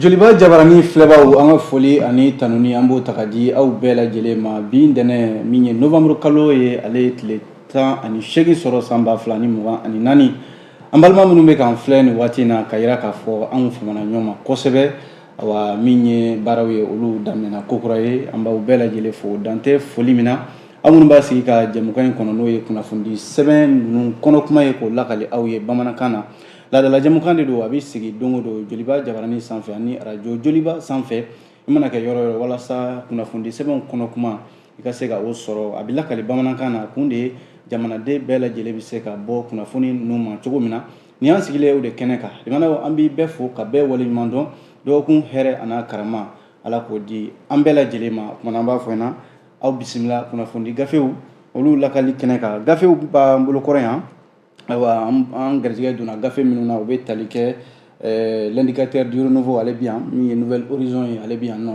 joliba jabarani filɛbaaw an ka foli ani tanuni an b'o ta ka di aw bɛɛ lajɛlen ma bi ntɛnɛn min ye novembre kalo ye ale ye tile tan ani seegin sɔrɔ san ba fila ni mugan ani naani an balima minnu bɛ k'an filɛ nin waati in na ka yira k'a fɔ anw famana ɲɔgɔn ma kosɛbɛ awa min ye baaraw ye olu daminɛna kokura ye an b'aw bɛɛ lajɛlen fo dan tɛ foli min na aw minnu b'a sigi ka jɛmukan in kɔnɔ n'o ye kunnafoni sɛbɛn ninnu kɔnɔ kuma ye k'o lakali aw ye bamanankan na laadala jɛmukan de don a bɛ sigi don o don joliba jabarani sanfɛ ani arajo joliba sanfɛ i mana kɛ yɔrɔ yɔrɔ walasa kunnafoni sɛbɛnw kɔnɔ kuma i ka se ka o sɔrɔ a bɛ lakali bamanankan na kun de ye jamanaden bɛɛ lajɛlen bɛ se ka bɔ kunnafoni ninnu ma cogo min na nin y'an sigilen o de kɛnɛ kan jamanaw an b'i bɛɛ fo ka bɛɛ waleɲuman dɔn dɔgɔkun hɛrɛ an'a karama ala k'o di an bɛɛ lajɛlen ma o kuma na an b'a fɔ ɲɛna aw bisimila kunnafoni gafew olu lakali kɛnɛ kan gafew b'an bolo kɔrɔ yan ayiwa an garijɛgɛ donna gafe minnu na u bɛ tali kɛ eh, l'indicateur du renouveau ale bi yan min ye nouvel horizon ye ale bi yan nɔ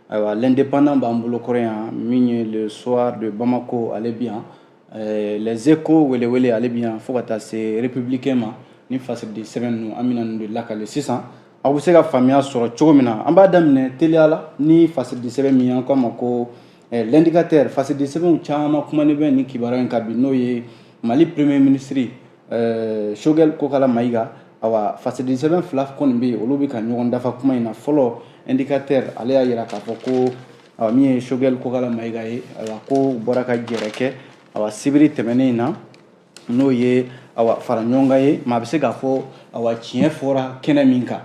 ayiwa l'indépendant b'an bolo kɔrɔ yan min ye le soir de bamako ale bi yan eh, les échos welewele ale bi yan fo ka taa se républicain ma ni fasiridi sɛbɛn ninnu an bɛna ninnu de lakali sisan aw bɛ se ka faamuya sɔrɔ cogo min na an b'a daminɛ teliya la ni fasiridi sɛbɛn min an k'a ma ko eh, l'indicateur fasiridi sɛbɛnw caman kumanen bɛ nin kibaruya in kan bi n'o ye mali premier ministre eh, Choguel Kokala Maïga awa fasiridi sɛbɛn fila kɔni bɛ yen olu bɛ ka ɲɔgɔn dafa kuma in na fɔlɔ indicateur ale y'a jira k'a fɔ ko awa min ye Choguel Kokala Maïga ye awa ko bɔra ka jɛrɛ kɛ awa sibiri tɛmɛnen na n'o ye awa fara ɲɔgɔn kan ye maa bɛ se k'a fɔ awa tiɲɛ fɔra kɛnɛ min kan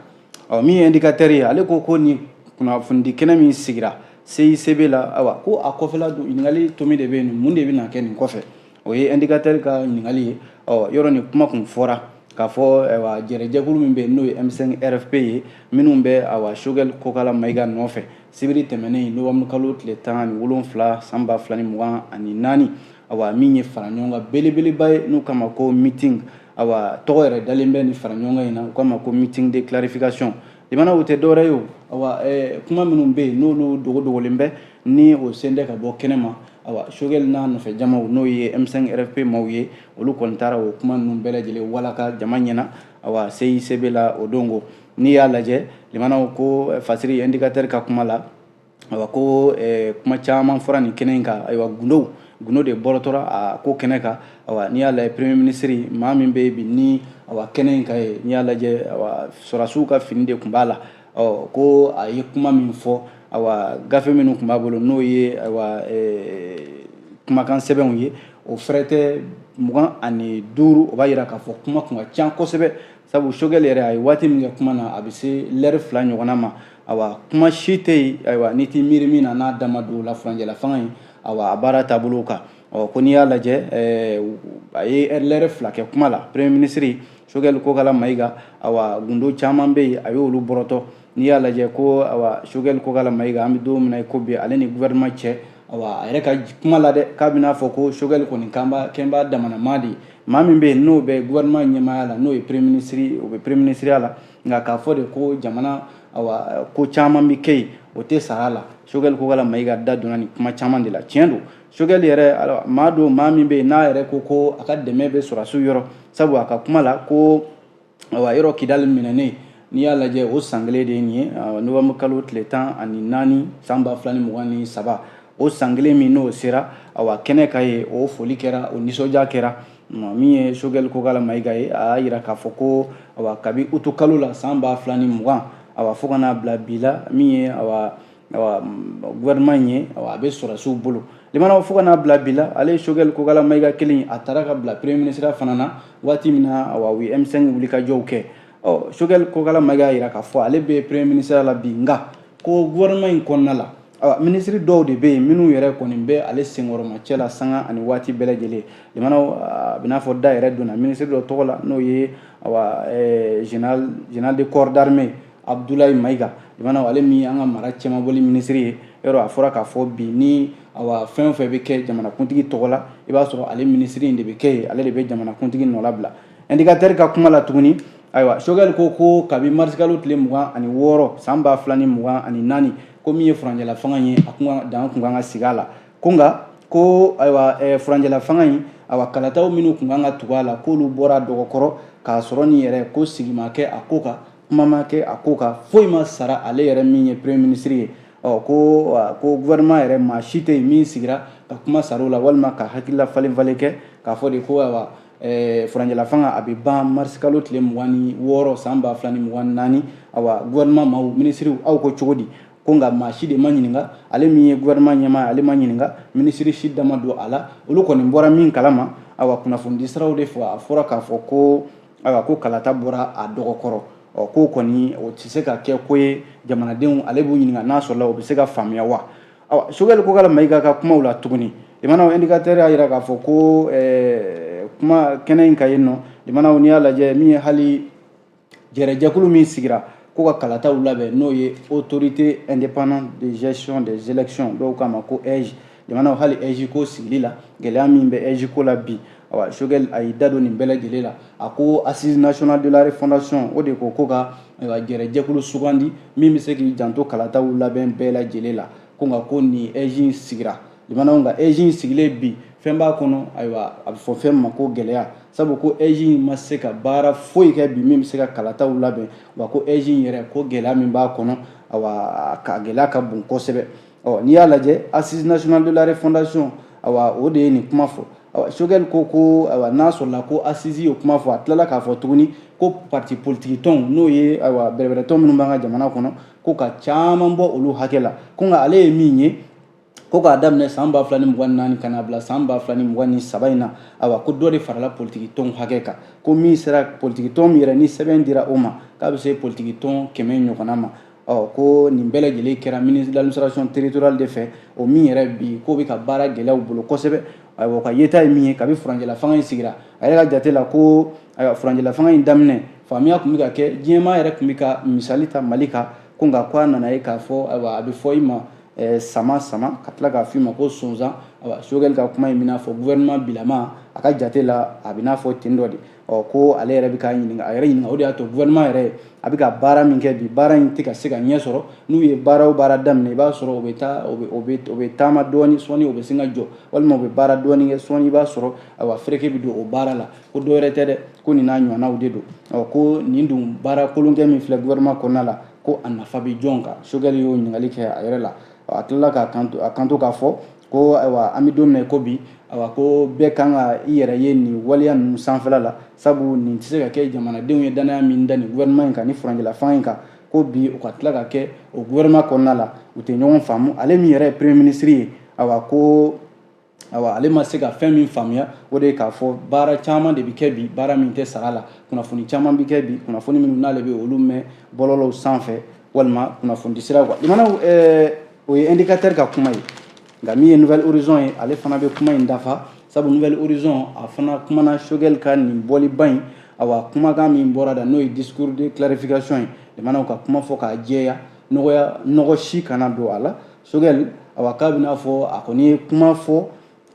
awa min ye indicateur ye ale ko ko nin kunnafonidi kɛnɛ min sigira CICB la awa ko a kɔfɛla don ɲininkali tomi de bɛ yen mun de bɛna kɛ nin kɔfɛ o ye indicateur ka ɲininkali ye ɔ yɔrɔ nin kuma kun fɔra k'a fɔ ayiwa jɛrɛjɛkulu min bɛ yen n'o ye M5 RFP ye minnu bɛ awa Choguel Kokala Maïga nɔfɛ Sibiri tɛmɛnen novembre kalo tile tan ni wolonfila san ba fila ni mugan ani naani awa min ye fara ɲɔgɔn kan belebeleba ye n'u k'a ma ko meeting a tɔgɔ yɛrɛ dalen bɛ nin fara ɲɔgɔn kan in na u k'a ma ko meeting de clarification jama n'o tɛ dɔwɛrɛ ye o kuma minnu bɛ yen n'olu dogodogolen bɛ ni o sen tɛ ka bɔ kɛnɛma a Choguel n'a nɔfɛ jamaw n'o ye M5 RFP maaw ye olu kɔni taara o kuma ninnu bɛɛ lajɛlen walaka jama ɲɛna a CICB la o don ko N'i y'a lajɛ limanaw ko fasiri indikatɛri ka kuma la a ko kuma caman fɔra nin kɛnɛ in kan ayiwa gundo gundo de bɔrɔtɔra a ko kɛnɛ kan n'i y'a lajɛ premier ministre maa min bɛ bi ni a kɛnɛ in kan ye n'i y'a lajɛ sɔrɔdasiw ka fini de tun b'a la ɔ ko a ye kuma min fɔ a gafe minnu tun b'a bolo n'o ye kumakan sɛbɛnw ye o fɛrɛtɛ mugan ani duuru o b'a jira k'a fɔ kuma tun ka ca kosɛbɛ sabu sogɛli yɛrɛ a ye waati min kɛ kuma na a bɛ se lɛri fila ɲɔgɔnna ma awa kuma si tɛ yen ayiwa n'i t'i miiri min na n'a da ma don o la furancɛla fanga in awa a baara taabolo kan ɔ ko n'i y'a lajɛ eh, a ye lɛri fila kɛ kuma la premier ministre sogɛli kokala mayiga awa gundo caman bɛ yen a y'olu bɔrɔtɔ n'i y'a lajɛ ko awa sogɛli kokala mayiga an bɛ don min na i ko bi ale ni gouvernement cɛ awa a yɛrɛ ka kuma la dɛ k'a bɛn'a fɔ ko sogɛli kɔni k'an b'a kɛlen b'a damana maa de ye maa min bɛ yen n'o bɛ gouvernement ɲɛmaaya la n'o ye premier ministre o bɛ premier ministreya la nka k'a fɔ de ko jamana awa ko caman bɛ kɛ yen o tɛ sara la sogɛli kokala mayiga da donna nin kuma caman de la tiɲɛ don sogɛli yɛrɛ maa don maa min bɛ yen n'a yɛrɛ ko ko a ka dɛmɛ bɛ sɔrɔdasiw yɔrɔ sabu a ka kuma la ko ayiwa yɔrɔ kidali minɛnen n'i y'a lajɛ o san kelen de ye nin ye novembre kalo tile tan ani naani san ba fila ni mugan ni saba o san kelen min n'o sera awa kɛnɛ ka ye o foli kɛra o nisɔndiya kɛra min ye sogɛli kokala mayiga ye a y'a yira k'a fɔ ko awa kabi utu kalo la san ba fila ni mugan awa fo ka n'a bila bi la min ye awa gouvernement in ye a bɛ sɔrɔdasiw bolo limanaw fo ka n'a bila bi la ale ye sogɛli kokala mayiga kelen a taara ka bila premier ministre fana na waati min na awa u ye m5 wulikajɔw kɛ ɔ sogɛli kokala mayiga y'a jira k'a fɔ ale bɛ premier ministre la bi nka ko gouvernement in kɔnɔna la awa minisiri dɔw de bɛ yen minnu yɛrɛ kɔni bɛ ale senkɔrɔmacɛ la sanga ani waati bɛɛ lajɛlen limanaw a bɛ n'a fɔ da yɛrɛ donna minisiri dɔ tɔgɔ la n'o ye awa général de corps d'armée abudulayi mayiga limanaw ale min an ka mara cɛmabɔli minisiri ye yɔrɔ a fɔra k'a fɔ bi ni awa fɛn o fɛn bɛ kɛ jamanakuntigi tɔgɔ la i b'a sɔrɔ ale minisiri in de bɛ kɛ yen ale de bɛ jamanakuntigi nɔnabila indikatɛri ka kuma la tuguni ayiwa sogɛli ko ko kabi marisikalo tile mugan ani wɔɔrɔ san ba fila ni mugan ani naani ko min ye furancɛla fanga ye a kun dan kun kan ka sigi a la ko nka ko ayiwa eh, furancɛla fanga in awa kalataw minnu kun kan ka tugu a la k'olu bɔra dɔgɔkɔrɔ k'a sɔrɔ nin yɛrɛ ko sigi ma kɛ a ko kan kuma ma kɛ a ko kan foyi ma sara ale yɛrɛ min ye premier ministre ye ɔ ko ko gouvernement yɛrɛ maa si tɛ yen min sigira ka kuma sara la walima ka hakilila falen falen kɛ k'a fɔ de ko ayiwa eh, furancɛla fanga a bɛ ban marisikalo tile mugan ni wɔɔrɔ san ba fila ni mugan ni naani awa gouvernement maaw minisiriw aw ko cogo di ko nka maa si de ma ɲininka ale min ye gouvernement ɲɛmaa ale ma ɲininka minisiri si da ma don a la olu kɔni bɔra min kalama awa kunnafonidisiraw de fɛ a fɔra k'a fɔ ko ayiwa ko kalata bɔra a dɔgɔ kɔrɔ ɔ k'o kɔni o tɛ se ka kɛ ko ye jamanadenw ale b'u ɲininka n'a sɔrɔla o bɛ se ka faamuya wa awa Choguel Kokalla Maïga ka kumaw la tuguni limanaw indicateur y'a jira k'a fɔ ko eh, kuma kɛnɛ in kan yen nɔ limanaw n'i y'a lajɛ min ye hali jɛrɛjɛkulu min sigira ko ka kalataw labɛn n'o ye autorité indépendante de gestion des élections dɔw k'a ma ko AIGE limanaw hali AIGE ko sigili la gɛlɛya min bɛ AIGE ko la bi awa Choguel a y'i da don nin bɛɛ lajɛlen la a ko assises nationales de la refondation o de ko ko ka jɛrɛjɛkulu sugandi min bɛ se k'i janto kalataw labɛn bɛɛ lajɛlen la ko nka ko nin AIGE sigira limanaw nka AIGE sigilen bi fɛn b'a kɔnɔ ayiwa a bɛ fɔ fɛn ma ko gɛlɛya sabu ko AIGE ma se ka baara foyi kɛ bi min bɛ se ka kalataw labɛn wa ko AIGE yɛrɛ ko gɛlɛya min b'a kɔnɔ awa k'a gɛlɛya ka bon kosɛbɛ Ɔ n'i y'a lajɛ assises nationales de la refondation o de ye nin kuma fɔ Choguel ko ko n'a sɔrɔla ko assises y'o kuma fɔ a tilala k'a fɔ tuguni ko parti politigi tɔnw n'o ye bɛrɛbɛrɛtɔn minnu b'an ka jamana kɔnɔ ko ka caman bɔ olu hakɛ la ko nka ale ye min ye ko k'a daminɛ san ba fila ni mugan ni naani ka na bila san ba fila ni mugan ni saba in na a ko dɔ de farala politigi tɔn hakɛ kan ko min sera politigi tɔn yɛrɛ ni sɛbɛn dira o ma k'a bɛ se politigi tɔn kɛmɛ ɲɔgɔn ma ɔ ko nin bɛɛ lajɛlen kɛra ministre de l'administration territoriale de fɛ o min yɛrɛ bi k'o bɛ ka baara gɛlɛya u bolo kosɛbɛ ayiwa o ka yeta ye min ye kabi furancɛla fanga in sigira a yɛrɛ ka jate la ko ayiwa furancɛla fanga in daminɛ faamuya tun bɛ ka kɛ diɲɛ maa yɛrɛ tun bɛ ka misali ta mali kan ko nka ko a nana ye k'a fɔ ayiwa a bɛ fɔ i ma eh, sama sama ka tila k'a f'i ma ko sonsan ayiwa Choguel ka kuma in bɛn'a fɔ gouvernement bilama a ka jate la a bɛn'a fɔ ten dɔ de ɔ ko ale yɛrɛ bɛ k'a ɲininka a yɛrɛ ɲininka o de y'a to gouvernement yɛrɛ a bɛ ka baara min kɛ bi baara in tɛ ka se ka ɲɛ sɔrɔ n'u ye baara o baara daminɛ i b'a sɔrɔ o bɛ taa o bɛ o bɛ o bɛ taama dɔɔni sɔɔni o bɛ sin ka jɔ walima o bɛ baara dɔɔni kɛ sɔɔni i b'a sɔrɔ ayiwa fereke bɛ don o baara la ko dɔwɛrɛ tɛ dɛ ko nin n'a ɲɔgɔnnaw de don ɔ ko nin dun baara kolonkɛ min filɛ gouvernement kɔnɔna la ko a nafa bɛ jɔn kan Choguel y'o ɲininkali kɛ a yɛrɛ la a tilala k'a kan a kanto k'a fɔ ko ayiwa an bɛ don min na ko bi ayiwa ko bɛɛ kan ka i yɛrɛ ye nin waleya ninnu sanfɛla la sabu nin tɛ se ka kɛ jamanadenw ye danaya min da nin gouvernement in kan ni furancɛla fanga in kan ko bi o ka tila ka kɛ o gouvernement kɔnɔna la u tɛ ɲɔgɔn faamu ale min yɛrɛ ye premier ministre ye a ko awa ale ma se ka fɛn min faamuya o de ye k'a fɔ baara caman de bɛ kɛ bi baara min tɛ sara a la kunnafoni caman bɛ kɛ bi kunnafoni minnu n'ale bɛ olu mɛn bɔlɔlɔw sanfɛ walima kunnafoni sira kan awa limanaw eh, o ye indicateur ka kuma ye nka min ye Nouvel Horizon ye ale fana bɛ kuma in dafa sabu Nouvel Horizon a fana kumana Choguel ka nin bɔliba in awa kumakan min bɔra a da n'o ye discours de clarification ye limanaw ka kuma fɔ k'a jɛya nɔgɔya nɔgɔ si kana don a la Sogɛli awa k'a bɛn'a fɔ a kɔni ye kuma fɔ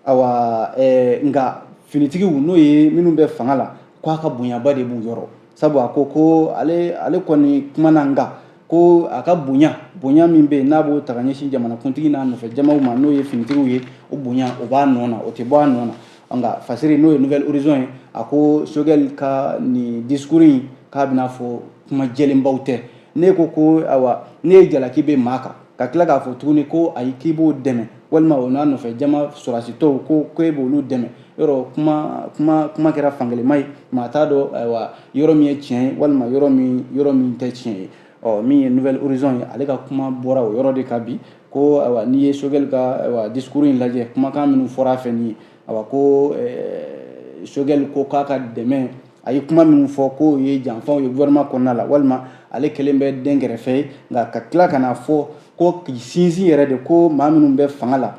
awa ɛɛ nka finitigiw n'o ye minnu bɛ fanga la k'a ka bonyaba de b'u yɔrɔ sabu a ko ko ale ale kɔni kuma na nka ko a ka bonya bonya min bɛ yen n'a b'o ta ka ɲɛsin jamanakuntigi n'a nɔfɛ jamaw ma n'o ye finitigiw ye o bonya o b'a nɔ na o tɛ bɔ a nɔ na nka fasiri n'o ye Nouvel Horizon ye a ko sogɛli ka nin discours in k'a bɛn'a fɔ kuma jɛlenbaw tɛ ne ko ko awa n'i ye jalaki bin maa kan ka tila k'a fɔ tuguni ko ayi k'i b'o dɛmɛ walima o n'a nɔfɛ jama sɔrɔdasi tɔw ko ko e b'olu dɛmɛ yɔrɔ kuma kuma kuma kɛra fankelenma ye maa t'a dɔn ayiwa yɔrɔ min ye tiɲɛ ye walima yɔrɔ min yɔrɔ min tɛ tiɲɛ ye ɔ min ye Nouvel Horizon ye ale ka kuma bɔra o yɔrɔ de kan bi ko ayiwa n'i ye sogɛli ka ayiwa discours in lajɛ kumakan minnu fɔra a fɛ nin ye a ko eh, sogɛli ko k'a ka dɛmɛ a ye kuma minnu fɔ k'o ye janfaw ye gouvernement kɔnɔna la walima ale kɛlen bɛ denkɛrɛfɛ ye nka ka tila ka n'a fɔ ko k'i sinsin yɛrɛ de ko maa minnu bɛ fanga la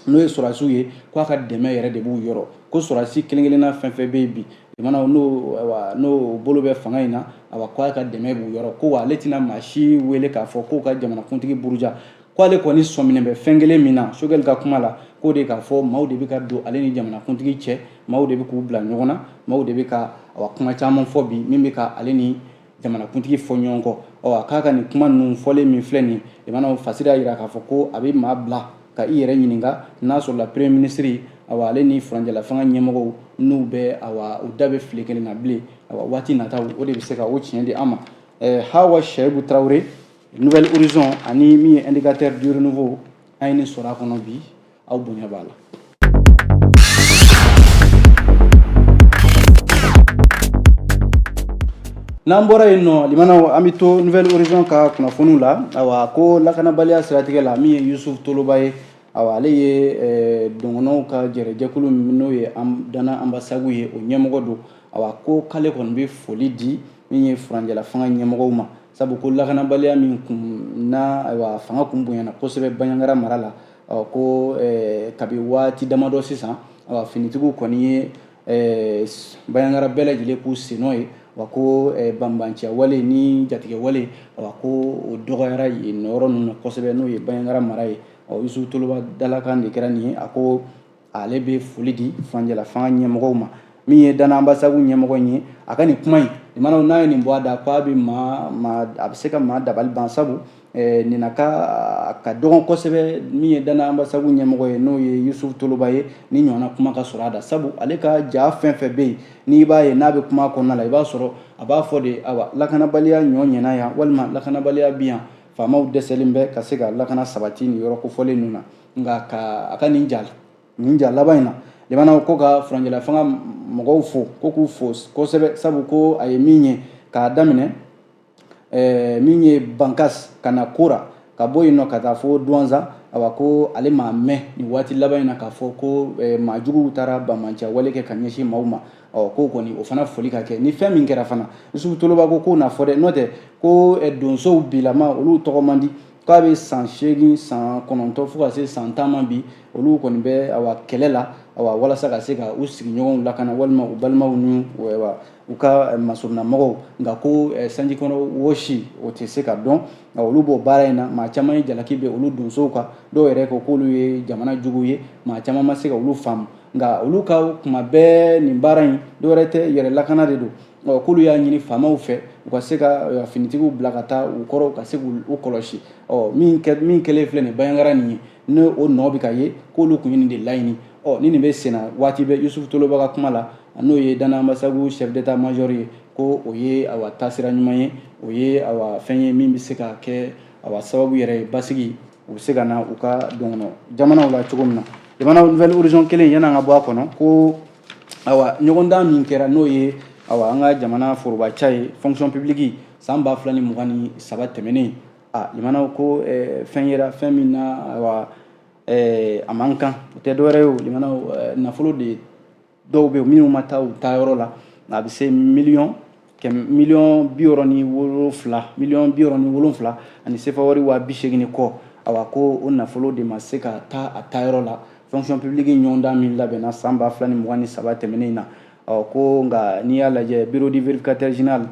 n'o ye sɔrɔdasiw ye k'a ka dɛmɛ yɛrɛ de b'u yɔrɔ ko sɔrɔdasi kelen kelenna fɛn fɛn bɛ yen bi jamanaw n'o ayiwa n'o bolo bɛ fanga in na ayiwa k'a ka dɛmɛ b'u yɔrɔ ko wa ale tɛna maa si wele k'a fɔ k'o ka jamanakuntigi buruja ko ale kɔni sɔminen bɛ fɛn kelen min na sogɛli ka kuma la k'o de k'a fɔ maaw de bɛ ka don ale ni jamanakuntigi cɛ maaw de bɛ k'u bila ɲɔgɔn na maaw de bɛ ka awa kuma caman fɔ bi min bɛ ka ale ni jamanakuntigi fɔ ɲɔgɔn kɔ awa k'a ka nin kuma ninnu fɔlen min filɛ nin limanaw fasiri y'a jira k'a fɔ ko a bɛ maa bila ka i yɛrɛ ɲininka n'a sɔrɔla premier minisiri awa ale ni furancɛlafanga ɲɛmɔgɔw n'u bɛ awa u da bɛ file kelen na bilen awa waati nataw o de bɛ se ka o tiɲɛ di an ma hawa shɛyibu tarawele Nouvel Horizon ani min ye indicateur du renouveau an ye nin sɔrɔ a kɔnɔ bi aw bonya b'a la n'an bɔra yen nɔ limanaw an bɛ to Nouvel Horizon ka kunnafoniw la awa ko lakanabaliya siratigɛ la min ye yusuf toloba ye awa ale ye eh, dɔngɔnɔw ka jɛrɛjɛkulu min n'o ye dana anbasagu ye o ɲɛmɔgɔ don awa ko k'ale kɔni bɛ foli di min ye furancɛla fanga ɲɛmɔgɔw ma sabu ko lakanabaliya min kun na ayiwa fanga kun bonyana kosɛbɛ baɲagara mara la ko eh, kabi waati damadɔ sisan ayiwa finitigiw kɔni ye eh, baɲagara bɛɛ lajɛlen k'u sennɔ ye wa ko eh, banbanciya wale ni jatigɛwale wa ko o dɔgɔyara yen yɔrɔ ninnu na kosɛbɛ n'o ye baɲagara mara ye ɔ yusu toloba dalakan de kɛra nin ye a ko ale bɛ foli di furancɛla fanga ɲɛmɔgɔw ma min ye dana anbasagu ɲɛmɔgɔ in ye a ka nin kuma in limanaw n'a ye nin bɔ a da k'a bɛ maa maa a bɛ se ka maa dabali ban sabu eh, nin na ka ka dɔgɔn kosɛbɛ min ye dana anbasagu ɲɛmɔgɔ ye n'o ye yusufu toloba ye nin ɲɔgɔnna kuma ka sɔrɔ a da sabu ale ka jaa fɛn fɛn bɛ yen n'i b'a ye n'a bɛ kuma kɔnɔna la i b'a sɔrɔ a b'a fɔ de awa lakanabaliya ɲɔ ɲɛna yan walima lakanabaliya bi yan faamaw dɛsɛlen bɛ ka se ka lakana sabati nin yɔrɔ kofɔlen ninnu na nka ka a ka nin ja nin ja laban in na limanaw ko ka furancɛla fanga mɔgɔw fo ko k'u fo kosɛbɛ sabu ko a ye min ye k'a daminɛ eh, min ye bankas ka na koro ka bɔ yen nɔ ka taa fo duwanza awa ko ale m'a mɛn nin waati laban in na k'a fɔ ko eh, maa juguw taara banbanciya wale kɛ ka ɲɛsin maaw ma ɔ k'o kɔni o fana foli ka kɛ ni fɛn min kɛra fana yusufu toloba ko k'o na fɔ dɛ n'o tɛ ko eh, donsow bilama olu tɔgɔ man di k'a bɛ san seegin san kɔnɔntɔn fo ka se san tan ma bi olu kɔni bɛ awa kɛlɛ la awa walasa ka se ka u sigiɲɔgɔnw lakana walima u balimaw ni u ka masurunnamɔgɔw nka ko sanji kɔnɔ wɔsi o tɛ se ka dɔn nka olu b'o baara in na maa caman ye jalaki bin olu donsow kan dɔw yɛrɛ ko k'olu ye jamana juguw ye maa caman ma se ka olu faamu nka olu ka kuma bɛɛ nin baara in dɔwɛrɛ tɛ yɛrɛ lakana de don Ɔ k'olu y'a ɲini faamaw fɛ u ka se ka euh, finitigiw bila ka taa u kɔrɔ u ka se k'u kɔlɔsi ɔ min kɛlen filɛ nin banjagara nin ye ni o nɔ bɛ ka ye k'olu tun ye nin de laɲini ɔ ni nin bɛ senna waati bɛɛ yusufu toloba ka kuma la n'o ye dana anbasagu chef d'état major ye ko o ye awa taasira ɲuman ye o ye awa fɛn ye min bɛ se ka kɛ awa sababu yɛrɛ ye basigi o bɛ se ka na u ka dɔgɔnɔ jamanaw la cogo min na jamana nouvel horizon kelen yann'an ka bɔ a kɔnɔ ko awa ɲɔgɔndan min kɛra n'o ye awa an ka jamana forobaca ye fonction publique san ba fila ni mugan ni saba tɛmɛnen a limanaw ko eh, fɛn yera fɛn min na awa eh, a man kan o tɛ dɔwɛrɛ ye o limanaw eh, nafolo de dɔw bɛ minnu ma taa u taa yɔrɔ la a bɛ se miliyɔn miliyɔn bi wɔɔrɔ ni wolonfila miliyɔn bi wɔɔrɔ ni wolonfila ani sefa wari waa bi seegin ni kɔ awa ko o nafolo de ma se ka taa a taayɔrɔ la fonction publique ɲɔgɔndan min labɛnna san ba fila ni mugan ni saba tɛmɛnen na ko nka n'i y'a lajɛ bureau du vérificateur général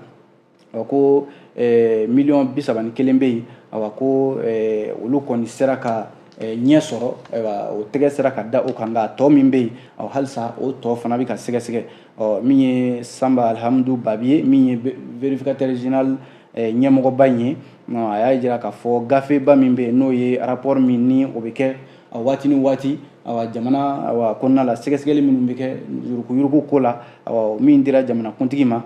ko miliyɔn bi saba ni kelen bɛ yen awa ko olu kɔni sera ka ɲɛ sɔrɔ o tɛgɛ sera ka da o kan nka tɔ min bɛ yen halisa o tɔ fana bɛ ka sɛgɛsɛgɛ min ye sanba alihamudu babi ye min ye vérificateur général ɲɛmɔgɔba in ye a y'a jira k'a fɔ gafeba min bɛ yen n'o ye arapɔri min ni o bɛ kɛ a waati ni waati jamana kɔnɔna la sɛgɛsɛgɛli minnu bɛ kɛ yuruguyurugu ko la min dira jamanakuntigi ma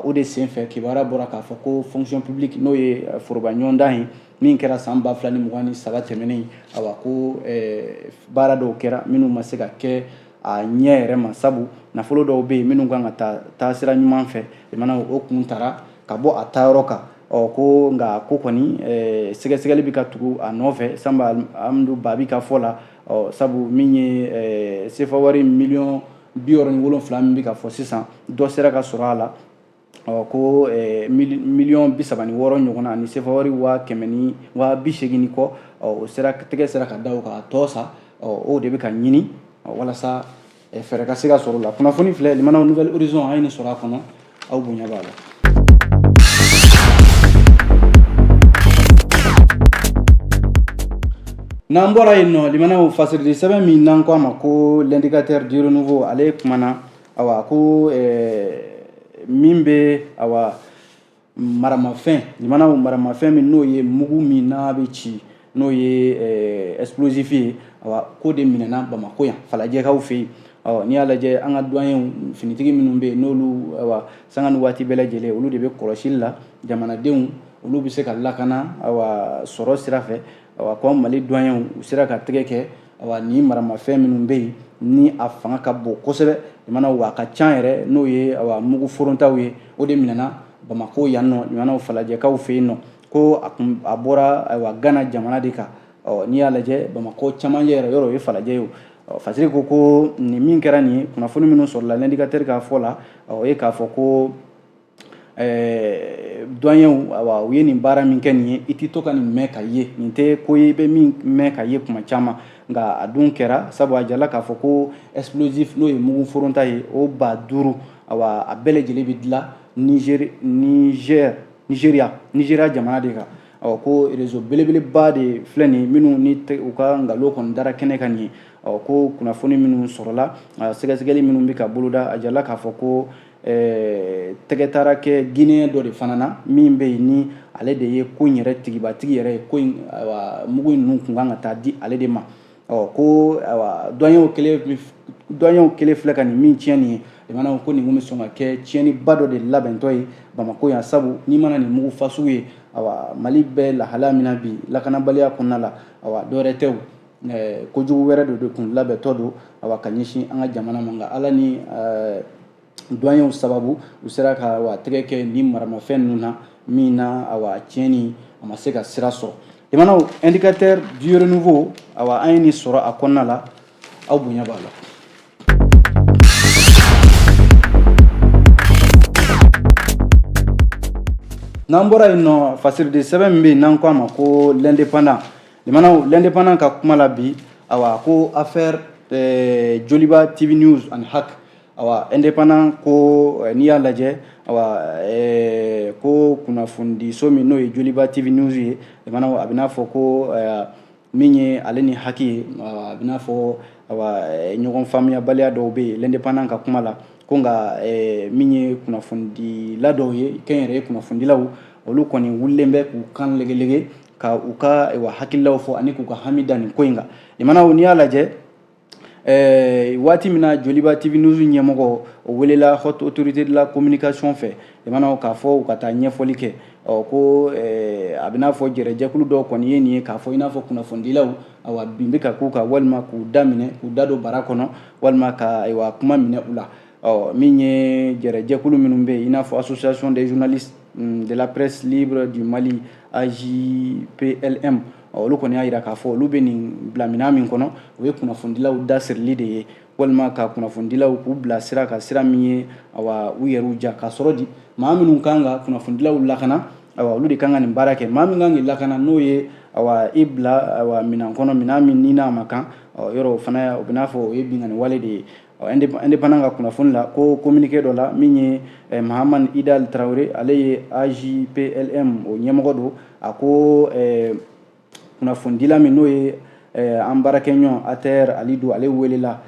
o de senfɛ kibaruya bɔra k'a fɔ ko fonction publique n'o ye foroba ɲɔgɔndan ye min kɛra san ba fila ni mugan ni saba tɛmɛnen awa ko eh, baara dɔw kɛra minnu ma se ka kɛ a ɲɛ yɛrɛ ma sabu nafolo dɔw bɛ yen minnu kan ka taa sira ɲuman fɛ lamɛnnaw o kun tara ka bɔ a taayɔrɔ kan ɔ ko nka ko kɔni eh, sɛgɛsɛgɛli bɛ ka tugu a nɔfɛ sanba alhamdu babi ka fɔ la ɔ sabu min ye eh, sefawari miliyɔn bi wɔɔrɔ ni wolonfila min bɛ ka fɔ sisan dɔ sera ka sɔrɔ a la ɔ ko eh, miliyɔn bi saba ni wɔɔrɔ ɲɔgɔnna ani sefawari waa kɛmɛ ni waa bi seegin ni kɔ o sera tɛgɛ sera ka da o kan a tɔ sa o de bɛ ka ɲini walasa eh, fɛɛrɛ ka se ka sɔrɔ a la kunnafoni filɛ lamɛnnaw nouvel horizon an ye nin sɔrɔ a kɔnɔ aw bonya b'a la n'an bɔra yen nɔ lamɛnnaw fasirili sɛbɛn min n'an ko a ma ko l'indicateur du renouveau ale kumana awa ko min bɛ awa maramafɛn lamɛnnaw maramafɛn min n'o ye mugu min n'a bɛ ci n'o ye ɛsplosifi ye awa k'o de minɛna bamakɔ yan falajɛkaw fɛ yen ɔ n'i y'a lajɛ an ka duwanyew finitigi minnu bɛ yen n'olu awa sanga ni waati bɛɛ lajɛlen olu de bɛ kɔlɔsili la jamanadenw olu bɛ se ka lakana awa sɔrɔ sira fɛ awa ko mali duwanyew u sera ka tɛgɛ kɛ awa ni maramafɛn minnu bɛ yen ni a fanga ka bon kosɛbɛ lamɛnnaw a ka ca yɛrɛ n'o ye awa mugu forontaw ye o de minɛna bamako yan nɔ lamɛnnaw falajɛkaw fɛ yen nɔ ko a kun a bɔra ayiwa gana jamana de kan ɔ n'i y'a lajɛ bamakɔ camancɛ yɛrɛ yɔrɔ o ye falajɛ ye o fasiri ko ko nin min kɛra nin ye kunnafoni minnu sɔrɔla l'indicateur ka fɔ la o ye k'a fɔ ko ɛɛ duwanyew awa u ye nin baara min kɛ nin ye i tɛ to ka nin mɛn k'a ye nin tɛ ko ye i bɛ min mɛn k'a ye tuma caman nka a dun kɛra sabu a jirala k'a fɔ ko explosif n'o ye mugu foronta ye o ba duuru awa a bɛɛ lajɛlen bɛ dilan nizeri nizeri nizeriya nizeriya jamana de kan ɔ ko rezo belebeleba de filɛ nin minnu ni u ka nkalon kɔni dara kɛnɛ kan nin ye ɔ ko kunnafoni minnu sɔrɔla sɛgɛsɛgɛli minnu bɛ ka boloda a jirala k'a fɔ ko Ɛɛ tɛgɛ taara kɛ Guineen dɔ de fana na min bɛ yen ni ale de ye ko in yɛrɛ tigibatigi yɛrɛ ye ko in mugu in ninnu tun kan ka taa di ale de ma ɔ ko duwanyew kɛlen duwanyew kɛlen filɛ ka nin min tiɲɛ nin ye lamɛnnaw ko nin tun bɛ sɔn ka kɛ tiɲɛniba dɔ de labɛntɔ ye Bamako yan sabu n'i mana nin mugu fasugu ye awa Mali bɛ lahalaya min na bi lakanabaliya kɔnɔna la awa dɔwɛrɛ tɛ o kojugu wɛrɛ dɔ de kun labɛntɔ don awa ka ɲɛsin an ka jamana ma nka ala ni duwaɲew sababu u sera ka awa tɛgɛ kɛ nin maramafɛn ninnu na min na awa a tiɲɛni a ma se ka sira sɔrɔ jamanaw indicateur du renouveau awa an ye nin sɔrɔ a kɔnɔna la aw bonya b'a la n'an bɔra yen nɔ fasiriden sɛbɛn min bɛ yen n'an ko a ma ko l'indépendant Limanaw l'indépendant ka kuma la bi, awa ko affaire eh, Joliba TV news ani HAC awa indépendant ko eh, n'i y'a lajɛ awa eh, ko kunnafonidiso min n'o ye Joliba TV news ye limanaw a bɛ n'a fɔ ko eh, min ye ale ni haki ye a bɛ n'a fɔ awa eh, ɲɔgɔn faamuyabaliya dɔw bɛ yen l'indépendant ka kuma la ko nka eh, min ye kunnafonidila dɔw ye kɛnyɛrɛye kunnafonidilaw olu kɔni wulilen bɛ k'u kan legelege ka u ka awa hakililaw fɔ ani k'u ka hami da nin ko in kan limanaw n'i y'a lajɛ Eh, waati min na joliba tv news ɲɛmɔgɔ o welela haute autorité de la communication fɛ jamanaw k'a fɔ u ka taa ɲɛfɔli kɛ ɔ ko eh, a bɛn'a fɔ jɛrɛjɛkulu dɔw kɔni ye nin ye k'a fɔ i n'a fɔ kunnafonidilaw awa bin bɛ ka k'u kan walima k'u da minɛ k'u da don bara kɔnɔ walima ka ayiwa kuma minɛ u la ɔ min ye jɛrɛjɛkulu minnu bɛ yen i n'a fɔ association des journalistes mm, de la presse libre du mali ajplm olu kɔni y'a jira k'a fɔ olu bɛ nin bila minɛn min kɔnɔ o ye kunnafonidilaw dasirili de ye walima ka kunnafonidilaw k'u bila sira kan sira min ye awa u yɛrɛw diya k'a sɔrɔ di maa minnu kan ka kunnafonidilaw lakana awa olu de kan ka nin baara kɛ maa min kan k'i lakana n'o ye awa i bila awa minɛn kɔnɔ minɛn min i n'a man kan yɔrɔ o fana o bɛ n'a fɔ o ye binkanni wale de ye indépendant ka kunnafoni la ko communiqué dɔ la min ye eh, mahaman idal traoré ale ye ajplm o ɲɛmɔgɔ don a ko eh, kunnafonidila min n'o ye eh, an baarakɛɲɔgɔn attaher halidou ale welela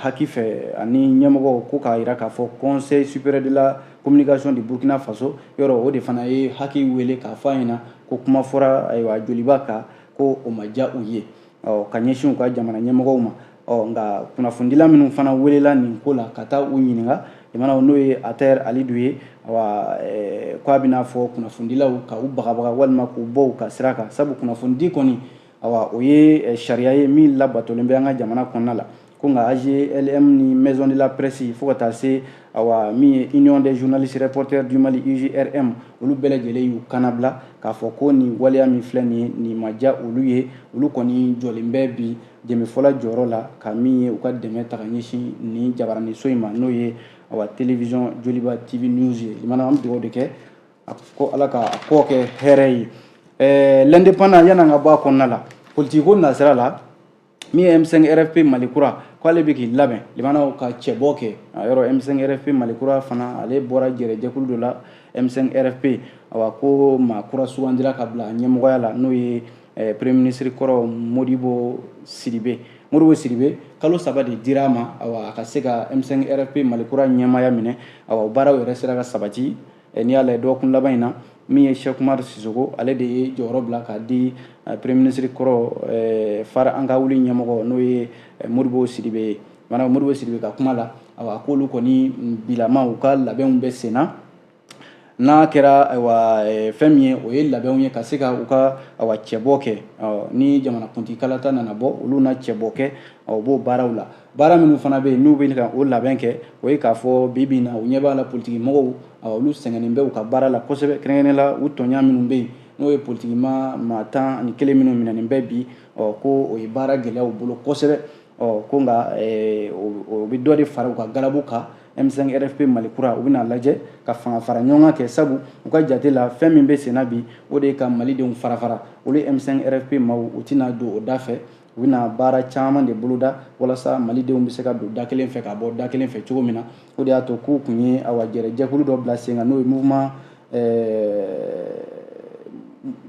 haki fɛ ani ɲɛmɔgɔ ko k'a yira k'a fɔ conseil supérieur de la communication de burkina faso yɔrɔ o de fana ye haki wele k'a fɔ a ɲɛ na ko kuma fɔra ayiwa joliba kan ko o ma diya u ye ɔ ka ɲɛsin u ka jamana ɲɛmɔgɔw ma ɔ nka kunnafonidila minnu fana welela nin ko la ka taa u ɲininka jamanaw n'o ye attaher halidou ye awa eh, ko a bɛn'a fɔ kunnafonidilaw ka u bagabaga walima k'u bɔ u ka sira kan sabu kunnafonidi kɔni awa o ye eh, sariya ye min labatolen bɛ an ka jamana kɔnɔna la ko nka AGLM ni Maison de la Presse fo ka taa se awa min ye Union des journalistes reporters du Mali UJRM olu bɛɛ lajɛlen y'u kanabila k'a fɔ ko nin waleya min filɛ nin ye nin ma diya olu ye olu kɔni jɔlen bɛ bi dɛmɛfɔla jɔyɔrɔ la ka min ye u ka dɛmɛ ta ka ɲɛsin nin jabaraniso in ma n'o ye awa télévision Joliba TV News ye limana an bɛ dugawu de kɛ ko Ala ka kɔ kɛ hɛrɛ ye ɛɛ l'indépendant yan an ka bɔ a kɔnɔna la politiki ko nasira la min ye M5 RFP Mali kura k'ale bɛ k'i labɛn limana ka cɛbɔ kɛ a yɔrɔ M5 RFP Mali kura fana ale bɔra jɛrɛjɛkulu dɔ la M5 RFP awa ko maa kura sugandira ka bila ɲɛmɔgɔya la n'o ye eh, premier ministre kɔrɔ Modibo Sidibe Modibo Sidibe kalo saba de dira a ma awa a ka se ka M5 RFP Mali kura ɲɛmaya minɛ awa o baaraw yɛrɛ sera ka sabati n'i y'a lajɛ dɔgɔkun laban in na min ye Cheikh Oumar Sissoco ale de ye jɔyɔrɔ bila k'a di eh, premier ministre kɔrɔ eh, FARE an ka wuli ɲɛmɔgɔ n'o ye eh, Modibo Sidibe ye maanaam Modibo Sidibe ka kuma la awa k'olu kɔni bilama u ka labɛnw bɛ sen na n'a kɛra ayiwa fɛn min ye o ye labɛnw ye ka se ka u ka awa cɛbɔ kɛ ni jamanakuntigikalata nana bɔ olu na cɛbɔ kɛ u b'o baaraw la baara minnu fana bɛ yen n'u bɛ ka o labɛn kɛ o ye k'a fɔ bi bi in na u ɲɛ b'a la politiki mɔgɔw olu sɛgɛnnen bɛ u ka baara la kosɛbɛ kɛrɛnkɛrɛnnen la u tɔɲa minnu bɛ yen n'o ye politiki ma maa tan ani kelen minnu minɛnen bɛ bi ɔ ko o ye baara gɛlɛya u bolo kosɛbɛ ɔ ko nka eh, o bɛ dɔ de fara u ka galabu kan M5 RFP Mali kura u bɛna lajɛ ka fanga fara ɲɔgɔn kɛ sabu u ka jate la fɛn min bɛ senna bi o de ye ka malidenw fara fara olu M5 RFP maaw u tɛna don o da fɛ u bɛna baara caman de boloda walasa malidenw bɛ se ka don da kelen fɛ ka bɔ da kelen fɛ cogo min na o de y'a to k'u tun ye awa jɛrɛjɛkulu dɔ bila sen kan n'o ye mouvement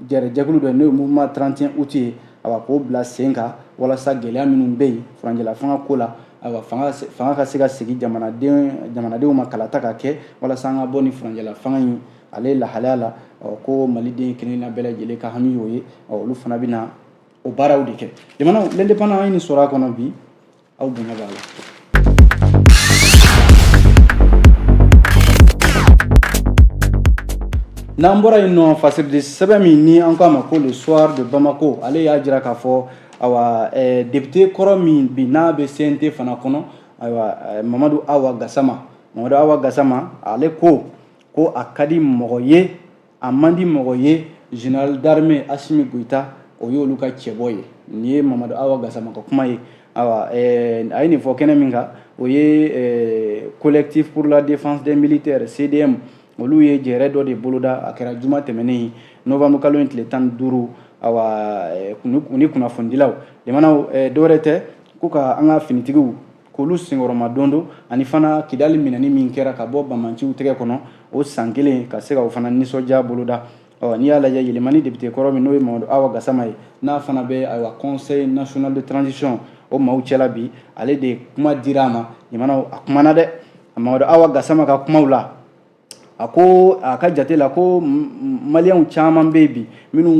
jɛrɛjɛkulu dɔ n'o ye mouvement 31 août ye awa k'o bila sen kan walasa gɛlɛya minnu bɛ yen furancɛla fanga ko la ayiwa fanga fanga ka se ka segin jamanaden jamanadenw ma kalata ka kɛ walasa an ka bɔ nin furancɛla fanga in ale lahalaya la ko maliden kelenna bɛɛ lajɛlen ka hami y'o ye olu fana bɛna o baaraw de kɛ jamana l'indépendant an ye nin sɔrɔ a kɔnɔ bi aw bonya b'a la n'an bɔra yen nɔ fasiridi sɛbɛn min ni an k'a ma ko le soir de bamako ale y'a jira k'a fɔ awa eh, depite kɔrɔ min bi n'a bɛ CNT fana kɔnɔ ayiwa eh, mamadu awa gasama mamadu awa gasama ale ko ko a ka di mɔgɔ ye a man di mɔgɔ ye général d'armée asimi goyita o y'olu ka cɛbɔ ye nin ye mamadu awa gasama ka kuma ye awa eh, a ye nin fɔ kɛnɛ min kan o ye eh, collectif pour la défense des militaires cdm olu ye jɛrɛ dɔ de boloda a kɛra juma tɛmɛnen novembre kalo in tile tan ni duuru awa eh, u ni kunnafonidilaw jamanaw dɔwɛrɛ tɛ ko ka an ka finitigiw k'olu senkɔrɔmadondon ani fana kidali minɛni min kɛra ka bɔ banbaanciw tɛgɛ kɔnɔ o san kelen ka se ka o fana nisɔndiya boloda ɔ n'i y'a lajɛ yelimani depite kɔrɔ min n'o ye mamadu awa gasama ye n'a fana bɛ ayiwa conseil national de transition o maaw cɛla bi ale de kuma dira a ma jamanaw a kumana dɛ mamadu awa gasama ka kumaw la a ko a ka jate la ko maliyɛnw caman bɛ yen bi minnu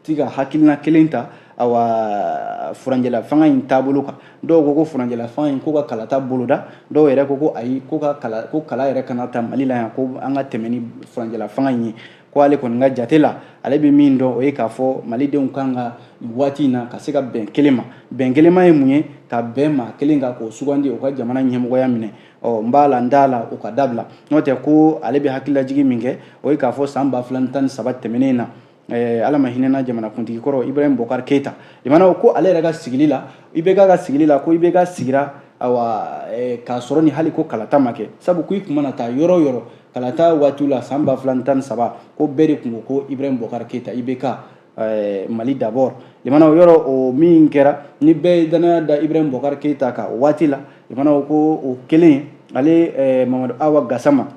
ti ka hakilina kelen ta awa furancɛla fanga in taabolo kan dɔw ko ko furancɛla fanga in ko ka kalata boloda dɔw yɛrɛ ko ko ayi ko ka kala ko kala yɛrɛ kana ta mali la yan ko an ka tɛmɛ ni furancɛla fanga in ye ko ale kɔni ka jate la ale bɛ min dɔn o ye k'a fɔ malidenw kan ka nin waati in na ka se ka bɛn kelen ma bɛn kelen ma ye mun ye ka bɛn maa kelen kan k'o sugandi o ka jamana ɲɛmɔgɔya minɛ ɔ n b'a la n t'a la o ka dabila n'o tɛ ko ale bɛ hakililajigi min kɛ o ye k'a fɔ san ba fila ni tan ni saba tɛmɛnen na eh, ala ma hinɛna jamanakuntigi kɔrɔ ibrahim bokar keyita jamanaw ko ale yɛrɛ ka sigili la ibk ka sigili la ko ibk sigira awa eh, k'a sɔrɔ ni hali ko kalata ma kɛ sabu ko i tun mana taa yɔrɔ o yɔrɔ kalata waatiw la san ba fila ni tan ni saba ko bɛɛ de tun ko ko ibrahim bokar keyita ibk Eh, mali d'abord jamanaw yɔrɔ o min kɛra ni bɛɛ ye dannaya da ibrahim bokar keyita kan o waati la jamanaw ko o kelen ale eh, mamadu awa gasama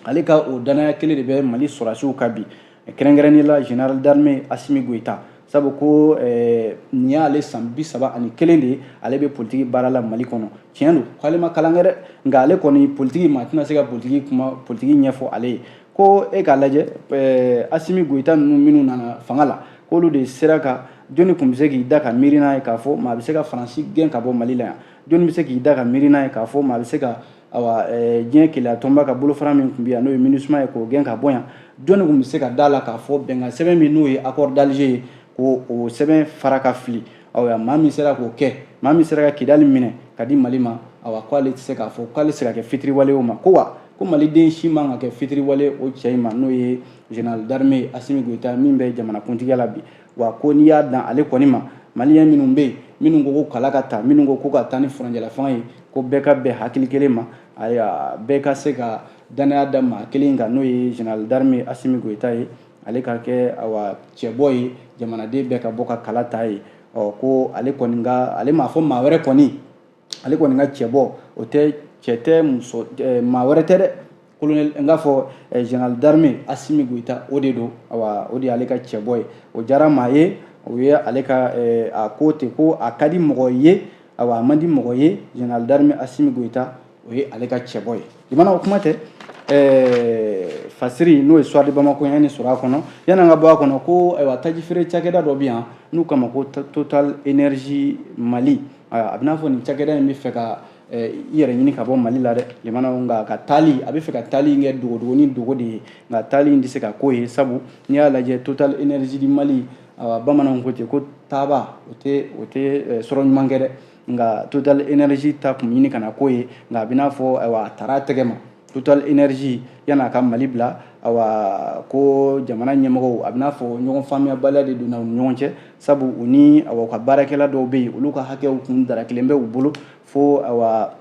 ale ka o dannaya kelen de bɛ mali sɔrɔsiw kan bi kɛrɛnkɛrɛnnen la général d'armée asimi goyita sabu ko eh, nin y'ale san bi saba ani kelen de ye ale bɛ politigi baara la mali kɔnɔ tiɲɛ don k'ale ma kalan kɛ dɛ nka ale kɔni politigi maa tɛna se ka politigi ɲɛfɔ ale ye ko e k'a lajɛ eh, asimi goyita ninnu minnu nana fanga la k'olu de sera ka jɔnni tun bɛ se k'i da ka miiri n'a ye k'a fɔ maa bɛ se ka faransi gɛn ka bɔ mali la yan jɔnni bɛ se k'i da ka miiri n'a ye k'a fɔ maa bɛ se ka awa eh, diɲɛ kelenya tɔnba ka bolofara min tun bɛ yan n'o ye minusma ye k'o gɛn ka bɔ yan jɔnni tun bɛ se ka d'a la k'a fɔ bɛnkan sɛbɛn min n'o ye accord d'alger ye k'o sɛbɛn fara ka fili awa maa min sera k'o kɛ maa min sera ka kidali minɛ ka di mali ma awa ko ale tɛ se k'a fɔ k'ale tɛ se ka kɛ fitiriwale o ma ko wa ko maliden si man ka kɛ fitiriwale o cɛ in ma n'o ye général d'armée asimi goyita min bɛ jamanakuntigiya la bi wa ko n'i y'a dan ale kɔni ma maliyɛn minnu bɛ yen minnu ko ko kala ka ta minnu ko ko ka taa ni furancɛla fanga ye ko bɛɛ ka bɛn hakili kelen ma ayiwa bɛɛ ka se ka dannaya da maa kelen kan n'o ye général d'armée asimi goyita ye ale ka kɛ cɛbɔ ye jamanaden bɛɛ ka bɔ ka kala ta ye ko ale ale m'a fɔ maa wɛrɛ kɔni ale kɔni ka cɛbɔ o tɛ cɛ tɛ maa wɛrɛ tɛ dɛ n k'a fɔ général d'armée assimi goïta o de don o de y'ale ka cɛbɔ ye o diyara maa ye o ye ale ka a ko ten ko a ka di mɔgɔ ye a man di mɔgɔ ye général d'armée assimi goïta o ye ale ka cɛbɔ ye limana o kuma tɛ ɛɛ fasiri n'o ye soir de bamako ye ni sɔrɔ a kɔnɔ yanni an ka bɔ a kɔnɔ ko ayiwa tajifeere cakɛda dɔ bɛ yan n'u k'a ma ko total énergie mali a bɛn'a fɔ nin cakɛda in bɛ fɛ ka i yɛrɛ ɲini ka bɔ mali la dɛ limana nka ka taali a bɛ fɛ ka taali in kɛ dogodogo ni dogo de ye nka taali in tɛ se ka k'o ye sabu n'i y'a lajɛ total énergie du mali awa bamananw ko ten ko taaba o tɛ o tɛ sɔrɔ ɲuman kɛ dɛ nka total énergie ta kun ɲini kana k'o ye nka a bɛ n'a fɔ ayiwa a taara a tɛgɛ ma total énergie yan'a ka mali bila awa ko jamana ɲɛmɔgɔw a bɛn'a fɔ ɲɔgɔn faamuyabaliya de donna u ni ɲɔgɔn cɛ sabu u ni awa u ka baarakɛla dɔw bɛ yen olu ka hakɛw kun dara kelen bɛ u bolo fo awa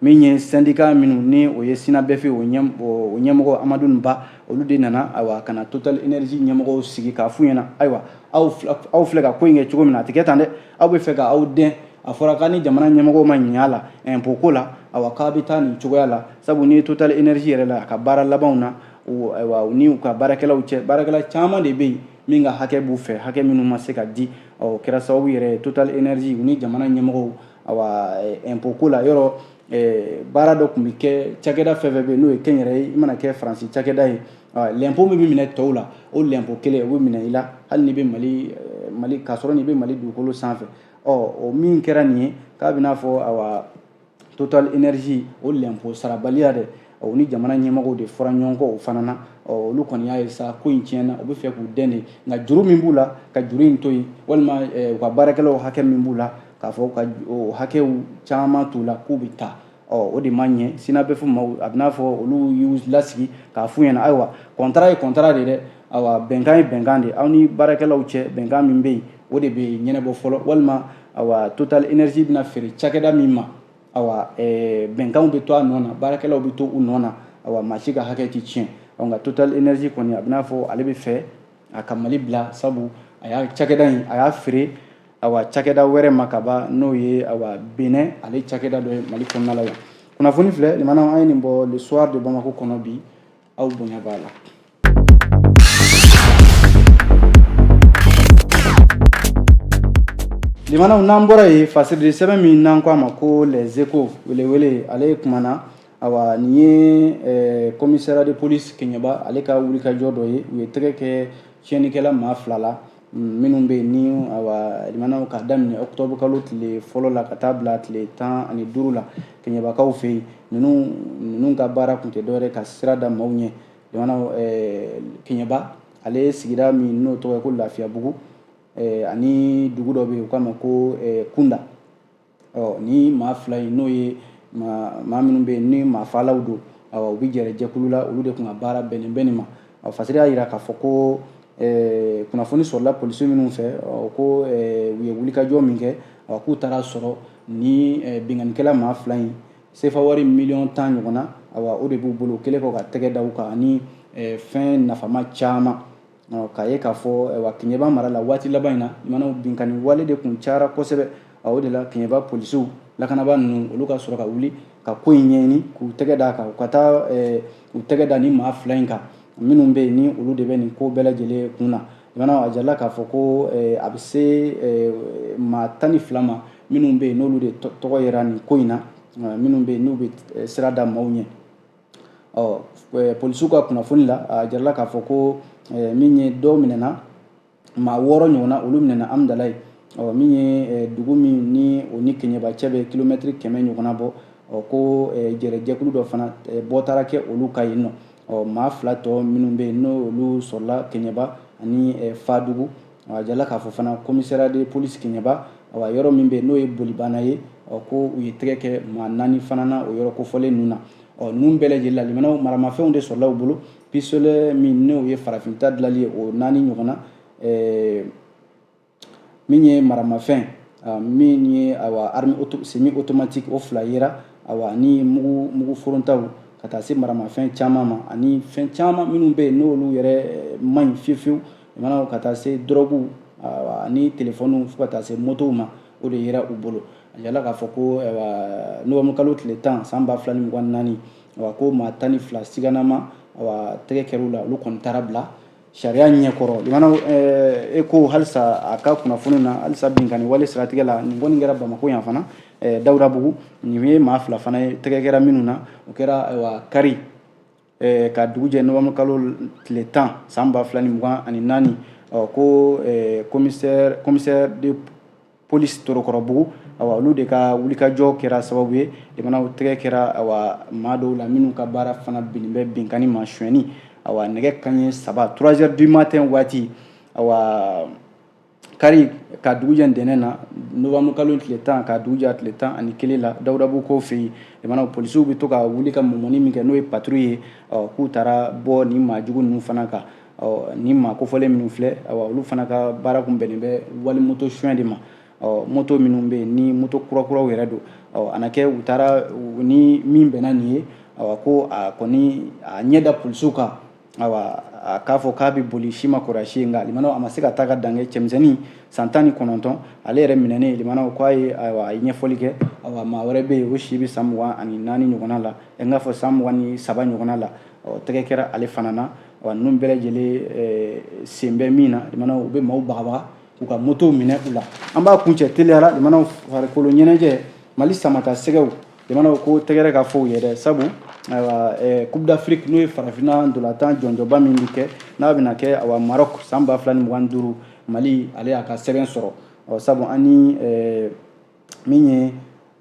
min ye sɛndika minnu ni o ye synabef o ɲɛmɔgɔ amadun ba olu de nana ayiwa ka na total énergie ɲɛmɔgɔw sigi k'a f'u ɲɛna ayiwa aw filɛ ka ko in kɛ cogo min na a tɛ kɛ tan dɛ aw bɛ fɛ ka aw dɛn a fɔra k'a ni jamana ɲɛmɔgɔw ma ɲɛ lɛnpo ko la ayiwa k'a bɛ taa nin cogoya la sabu n'i ye total énergie yɛrɛ la a ka baara labanw na ayiwa u ni u ka baarakɛlaw cɛ baarakɛla caman de bɛ yen min ka hakɛ b'u fɛ hakɛ minnu ma se ka di ɔ kɛra sababu yɛrɛ total énergie u ni jamana ɲɛmɔgɔw awa eh, impôt ko la yɔrɔ eh, baara dɔ tun bɛ kɛ cakɛda fɛn fɛn bɛ yen n'o ye kɛnyɛrɛye i mana kɛ faransi cakɛda ye lɛnpo min bɛ minɛ tɔw la o lɛnpo kelen o bɛ minɛ i la hali n'i bɛ mali eh, mali k'a sɔrɔ n'i bɛ mali dugukolo sanfɛ ɔ o min kɛra nin ye k'a bɛ n'a fɔ awa total énergie o lɛnpo sarabaliya de o ni jamana ɲɛmɔgɔw de fɔra ɲɔgɔn kɔ o fana na olu kɔni y'a ye sa ko in tiɲɛna u bɛ fɛ k'u dɛn de nka juru min b'u la ka juru in to yen walima u ka baarakɛlaw hakɛ min b'u la k'a fɔ ka hakɛw caman t'u la k'u bɛ taa o de ma ɲɛ synabef ma a bɛ n'a fɔ olu y'u lasigi k'a f'u ɲɛna ayiwa kɔntara ye kɔntara de dɛ ayiwa bɛnkan ye bɛnkan de aw ni baarakɛlaw cɛ bɛnkan min bɛ yen o de bɛ ɲɛnɛbɔ fɔlɔ walima ayiwa total énergie bɛna feere cakɛda min ma ayiwa bɛnkanw bɛ to a nɔ na baarakɛlaw bɛ to u nɔ na ayiwa maa si ka hakɛ tɛ tiɲɛ nka total énergie kɔni a bɛ n'a fɔ ale bɛ fɛ a ka mali bila sabu a y'a cakɛda in a y'a feere awa cakɛda wɛrɛ ma ka ban n'o ye awa benɛn ale cakɛda dɔ ye mali kɔnɔna la yan kunnafoni filɛ limanaw an ye nin bɔ le soir de bamako kɔnɔ bi aw bonya b'a la limanaw n'an bɔra yen fasirili sɛbɛn min n'an ko a ma ko les échos welewele ale kumana awa nin ye eh, commissariat de police keɲɛba ale ka wulikajɔ dɔ ye u ye tɛgɛ kɛ tiɲɛnikɛla maa fila la mm, minnu bɛ yen ni awa limanaw ka daminɛ octobre kalo tile fɔlɔ la ka taa bila tile tan ani duuru la keɲɛbakaw fɛ yen ninnu ninnu ka baara tun tɛ dɔwɛrɛ ka sira da maaw ɲɛ limanaw eh, keɲɛba ale ye sigida min n'o tɔgɔ ye ko lafiyabugu eh, ani dugu dɔ bɛ yen u k'a ma ko kunda ɔ ni maa fila in n'o ye maa minnu bɛ yen ni maa faalaw don u bɛ jɛrɛ jɛkulu la olu de tun ka baara bɛnnen bɛ nin ma ɔ fasiri y'a jira k'a fɔ ko kunnafoni sɔrɔla polisi minnu fɛ ko u ye wulikajɔ min kɛ k'u taara sɔrɔ ni binkannikɛla maa fila in sefa wari miliyɔn tan ɲɔgɔnna o de b'u bolo o kɛlen kɔ ka tɛgɛ da u kan ani fɛn nafama caman K'a ye k'a fɔ wa keɲɛba mara la waati laban in na limanaw binkanni wale de tun cayara kosɛbɛ a o de la keɲɛba polisiw lakanabaa ninnu olu ka sɔrɔ ka wuli ka ko in ɲɛɲini k'u tɛgɛ d'a kan u ka taa u tɛgɛ da ni maa fila in kan minnu bɛ yen ni olu de bɛ nin ko bɛɛ lajɛlen kun na limanaw a jala k'a fɔ ko a bɛ se maa tan ni fila ma minnu bɛ yen n'olu de tɔgɔ yera nin ko in na minnu bɛ yen n'u bɛ sira da maaw ɲɛ ɔ polisiw ka kunnafoni la a jarala k'a fɔ ko min ye dɔw minɛna maa wɔɔrɔ ɲɔgɔnna olu minɛna amdalaye ɔ min ye dugu min ni o ni keɲɛba cɛ bɛ kilomɛtiri kɛmɛ ɲɔgɔnna bɔ ɔ ko jɛrɛjɛkulu dɔ fana bɔ taara kɛ olu ka yen nɔ ɔ maa fila tɔ minnu bɛ yen n'olu sɔrɔla keɲɛba ani fadugu A jala k'a fɔ fana commissariat de police keɲɛba a yɔrɔ min bɛ yen n'o ye bolibana ye ɔ ko u ye tɛgɛ kɛ maa naani fana na o yɔrɔ kofɔlen ninnu na ɔ ninnu bɛɛ lajɛlen la limanaw maramafɛnw de sɔrɔla u bolo pistolet min n'o ye farafinta dilanlen ye o naani ɲɔgɔnna min ye maramafɛn min ye semi automatique o fila yera ayiwa ni mugu foronta ka taa se maramafɛn caman ma ani fɛn caman minnu bɛ yen n'olu yɛrɛ man ɲi fiyewu Mana ka taa se drogue ani téléphone fo ka taa se motow ma o de yera u bolo a jala k'a fɔ ko novembre kalo tile tan san ba fila ni mugan ni naani ko maa tan ni fila siganama tɛgɛ kɛra u la olu kɔni taara bila sariya ɲɛkɔrɔ e ko halisa a ka kunnafoni na halisa binkanni wale siratigɛ la nin kɔni kɛra bamakɔ yan fana dawudabugu nin ye maa fila fana ye tɛgɛ kɛra minnu na o kɛra kari eh, ka dugu jɛ novembre kalo tile tan san ba fila ni mugan ani naani ɔ ko eh, commissaire de police torokɔrɔbugu awa olu de ka wulikajɔ kɛra sababu ye limanaw tɛgɛ kɛra awa maa dɔw la minnu ka baara fana bɛnnen bɛ binkanni ma sonyɛni awa nɛgɛ kanɲɛ saba 3 heures du matin waati awa kari ka dugu jɛ ntɛnɛn na novembre kalo tile tan ka dugu jɛ a tile tan ani kelen la dawudabugukaw fɛ yen jamana polisiw bɛ to ka wuli ka mɔmɔni min kɛ n'o ye patrouille ye k'u taara bɔ nin maajugu ninnu fana kan nin maa kofɔlen minnu filɛ olu fana ka baara kun bɛnnen bɛ wali moto suɲɛ de ma moto minnu bɛ yen ni moto kurakuraw yɛrɛ don a na kɛ u taara ni min bɛnna nin ye ko a kɔni a ɲɛ da polisiw kan awa a k'a fɔ k'a bɛ boli si ma kɔrɔsi nka limanaw a ma se ka taa ka dan kɛ cɛmisɛnnin san tan ni kɔnɔntɔn ale yɛrɛ minɛnen limanaw k'a ye ayiwa a ye ɲɛfɔli kɛ awa maa wɛrɛ bɛ yen o si bɛ san mugan ani naani ɲɔgɔnna la n k'a fɔ san mugan ni saba ɲɔgɔnna la ɔ tɛgɛ kɛra ale fana na wa ninnu bɛɛ lajɛlen eh, sen bɛ min na limanaw u bɛ maaw bagabaga k'u ka motow minɛ u la an b'a kuncɛ teliya la limanaw farikolo ɲɛnajɛ mali samatasɛgɛw jamanaw ko tɛgɛrɛ ka fɔ u ye dɛ sabu ayiwa eh, coupe d'afrique n'o ye farafinna ndolatan jɔnjɔnba min bɛ kɛ n'a bɛna kɛ awa maroc san ba fila ni mugan duuru mali ale y'a ka sɛbɛn sɔrɔ ɔ sabu an ni eh, min ye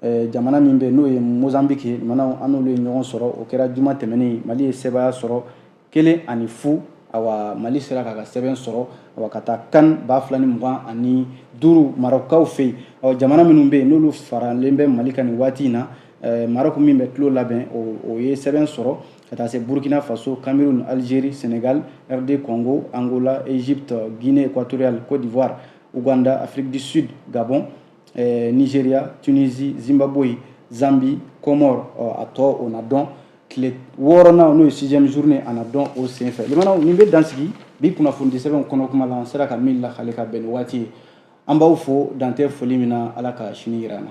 eh, jamana min bɛ n'o ye mozambique ye jamanaw an n'olu ye ɲɔgɔn sɔrɔ o kɛra juma tɛmɛnen mali ye sebaaya sɔrɔ kelen ani fu awa mali sera k'a ka sɛbɛn sɔrɔ awa ka taa can ba fila ni mugan ani duuru marɔkaw fɛ yen ɔ jamana minnu bɛ yen n'olu faralen bɛ mali kan nin waati in na eh, maroc min bɛ tulon labɛn o ye sɛbɛn sɔrɔ ka taa se burkina faso cameroun algérie sénégal rd congo angola égypte guinée équatoriale côte d'ivoire ouganda afrique du sud gabon eh, nigeria tunisie zimbabwe zambie comores a tɔ o na dɔn tile wɔɔrɔnan n'o ye sixième journée a na dɔn o senfɛ limanaw nin bɛ dan sigi bi kunnafonidisɛbɛnw kɔnɔkuma la an sera ka min lakali ka bɛn ni waati ye an b'aw fo dan tɛ foli min na ala ka sini yira an na